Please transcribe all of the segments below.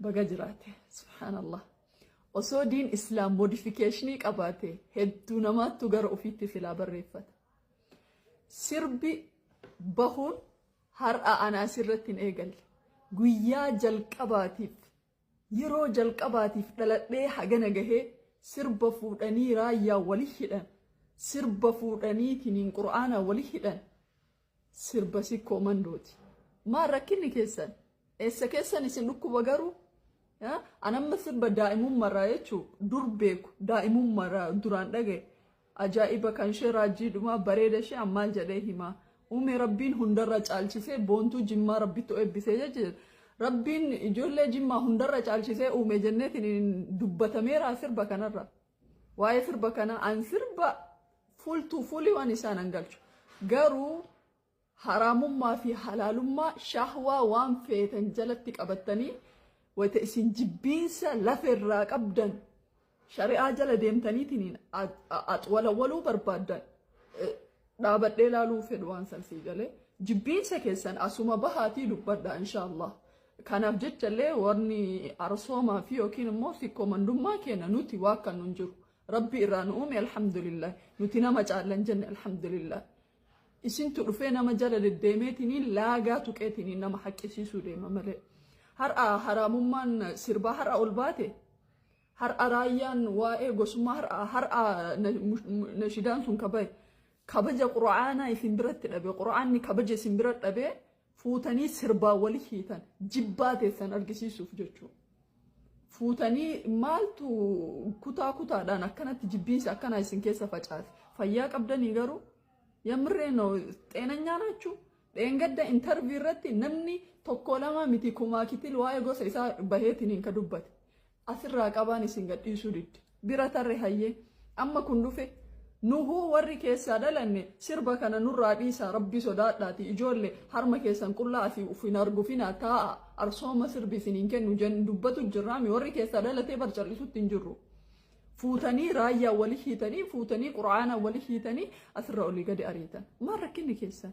Baga jiraate subhaanallah. Osoo diin islaam modifikeeshinii qabaate hedduu namaattu gara ofiitti filaa barreeffata. Sirbi bahuun har'a ana asirratti hin eegalle. Guyyaa jalqabaatiif yeroo jalqabaatiif dhaladhee hagana gahee sirba fuudhanii raayyaa wali hidhan. Sirba fuudhaniitiin qur'aanaa wali hidhan. Sirba sikkoo mandooti. Maal rakkinni keessan? Eessa keessan isin dhukkuba garuu? Eh, An amma sirba daa'imummarraa jechuu dur beeku daa'imummarraa duraan dhagaye. Ajaa'iba kan ishee raajjii dhumaa bareeda ishee an maal jedhee himaa. Uumee rabbiin hundarra caalchisee boontuu jimmaa rabbittu eebbisee jechuudha. Rabbiin ijoollee jimmaa hundarra caalchisee uume jenneetiin dubbatameera sirba kanarra. Waa'ee sirba kana an sirba full to full waan isaan an galchu. Garuu haraamummaa fi halaalummaa shahwaa waan feetan jalatti qabattanii wayita isin jibbiinsa lafa irraa qabdan shari'aa jala deemtaniitiin axwalawwaluu barbaaddan eh, dhaabadhee laaluu fedhu waan san sii galee jibbiinsa keessan asuma bahaatii dubbadha inshaallah Kanaaf jecha illee warni arsoomaa fi yookiin immoo sikkoomandummaa keenya nuti waa kan nun jiru. Rabbi irraa nu uume alhamdulillah. Nuti nama caallan jenne alhamdulillah. Isintu dhufee nama jala deddeemeetiniin laagaa tuqeetiniin nama haqqisiisuu deema malee. Har'a haraamummaan sirbaa har'a ol baate har'a raayyaan waa'ee gosummaa har'a har'a nashidaan sun kabaye kabaja qura'aanaa isin biratti dhabe qura'aanni kabaja isin bira dhabee fuutanii sirbaa wali hiitan jibbaa teessan argisiisuuf jechuu fuutanii maaltu kutaa kutaadhaan akkanatti jibbiinsi akkanaa isin keessa facaate fayyaa qabdanii garuu yamree no xeenanyaa naachuu dheengadda intarvii irratti namni tokko lama miti kumaa kitil waa'ee gosa isaa baheetiin hin ka dubbate Asirraa qabaan isin gadhiisuu didde. Bira tarre hayyee. Amma kun dhufe. Nuhuu warri keessaa dhalanne sirba kana nurraa dhiisaa rabbi sodaadhaati ijoolle harma keessan qullaa asii uf hin argufina taa'a arsooma sirbi isin hin kennu jen dubbatu jirraami warri keessaa dhalatee bar cal'isutti hin jirru. Fuutanii raayyaa wali hiitanii fuutanii quraana wali hiitanii asirra olii gadi ariitan. Maal rakkinni keessan?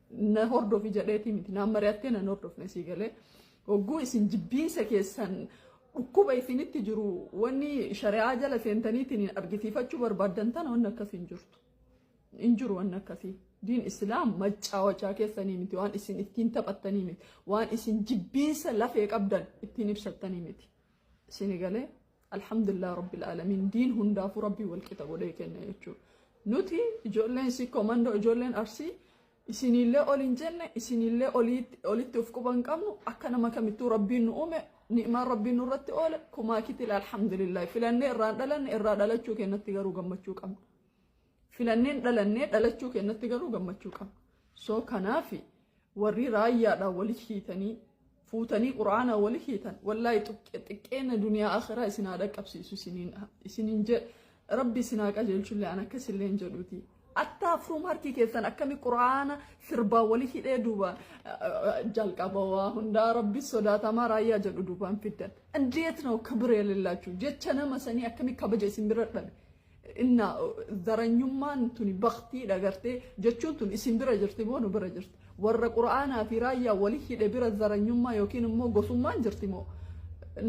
na hordofi jedheetii miti naan mari'attee nan hordofne sii galee hogguu isin jibbiinsa keessan dhukkuba isinitti jiru wanni shari'aa jala seentaniitiin argisiifachuu barbaaddan tana wanni akkasii hin jirtu. Hin jiru wanni akkasii. Diin Islaam macaawachaa keessanii miti waan isin ittiin taphattanii miti waan isin jibbiinsa lafee qabdan ittiin ibsattanii miti. Isin galee Alhamdulillah Rabbil Alamin diin hundaafuu Rabbii walqixa godhee kenna jechuudha. Nuti ijoolleen si komandoo ijoolleen arsii isinillee ol hin jenne isinillee olitti of quba hin qabnu akka nama kamittuu Rabbiin nu uume ni'maan Rabbiin nurratti oole kumaa kitila alhamdulillah filannee irraan dhalanne irraa dhalachuu kennatti garuu gammachuu qabna. Filanneen dhalannee dhalachuu keenyatti garuu gammachuu qabna. So kanaaf warri raayyaadhaan wali hiitanii fuutanii quraanaa wali hiitan wallaahi xiqqeena duniyaa akhiraa isin haa dhaqqabsiisu isiniin jedhe rabbi isin haa qajeelchullee an akkas illee hin jedhuuti. Attaa afruum harki keessan akkami quraana sirbaa wali hidhee duuba jalqaba waa hundaa rabbi sodaatamaa raayyaa jedhu duubaan fiddan. Indeet noo kabiree lillaachu jecha nama sanii akkami kabaja isin bira dhabe. Inna zaranyummaan tuni baktiidha gartee jechuun tun isin bira jirti moo nu bira jirti warra qura'aanaa fi raayyaa wali hidhe bira zaranyummaa yookiin immoo gosummaan jirti moo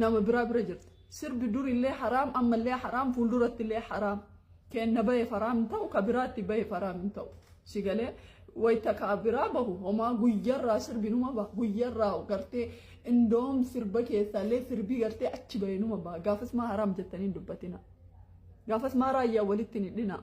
nama biraa bira jirti sirbi durillee haraam ammallee haraam fuuldurattillee haraam keenna bahe faraam hin ta'u ka biraatti bahe faraam hin ta'u si galee wayita ka biraa bahu homaa guyyarraa sirbi numa baha guyyarraa gartee indoom sirba keessaallee sirbii gartee achi bahe numa baha gaafas maa haraam jettanii hin dubbatinaa. Gaafas maa raayyaa walitti hin hidhinaa.